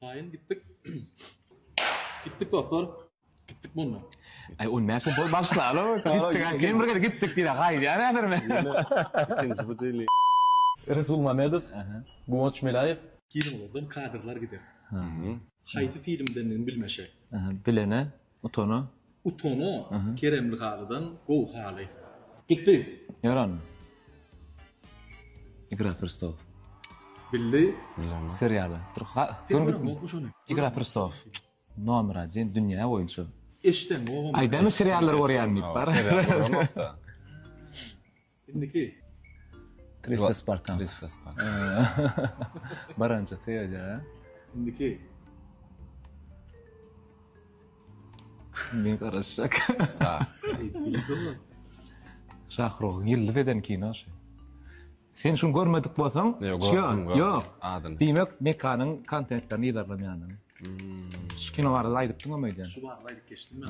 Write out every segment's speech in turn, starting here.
Taýyn gitdik. Gitdik dostlar. Gitdik mundan. Aý on bäş ýyl başlala gitdik aý men bir gezek gitdik diýle gaýdýar häzir men. Ikinji bu jyly. Resul Mamedow, Guwanç Meläýew. Kinolardan kadrlar gider. Haýsy filmdendigini bilmeşek. Bilene Utana. Utana. Keremli halydan gowy haly. Gitdi. Ýaran. Igra prestol. Bildi. Bilemok. Serialy. Dur. Ha. Igra prestol. Nomer 1 dünýä boýunça. Eşden. Aýdamy seriallar görýän diýip bar. Indiki. Krista Spartan. Krista Spartan. Baranca Teoja. Indiki. Men garaşacak. Ha. Şahrogyň ýyldyz eden kino şu. Sen şuny görmedik bolsaň, ýok, ýok. Adyn. Diýmek, mekanyň kontentlerini ýazarlar ýanyna. Hmm. Şu kino barada aýdypdyň öýden. Şu barada aýdyp geçdim men.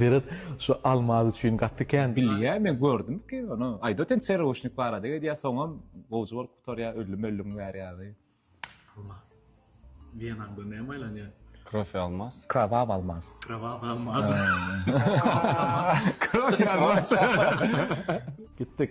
Berat şu almaz üçin gaty kän. Bilýä men gördüm ki ony aýda sen serwuşnik barada edýä soňam gowja bolup gutarýa ölli möllüň bäri ýaly. Almaz. Wena bu näme aýlanýa. Krofi almaz. Krowaww almaz. Krowaww almaz. Krofi almaz. Gitdik.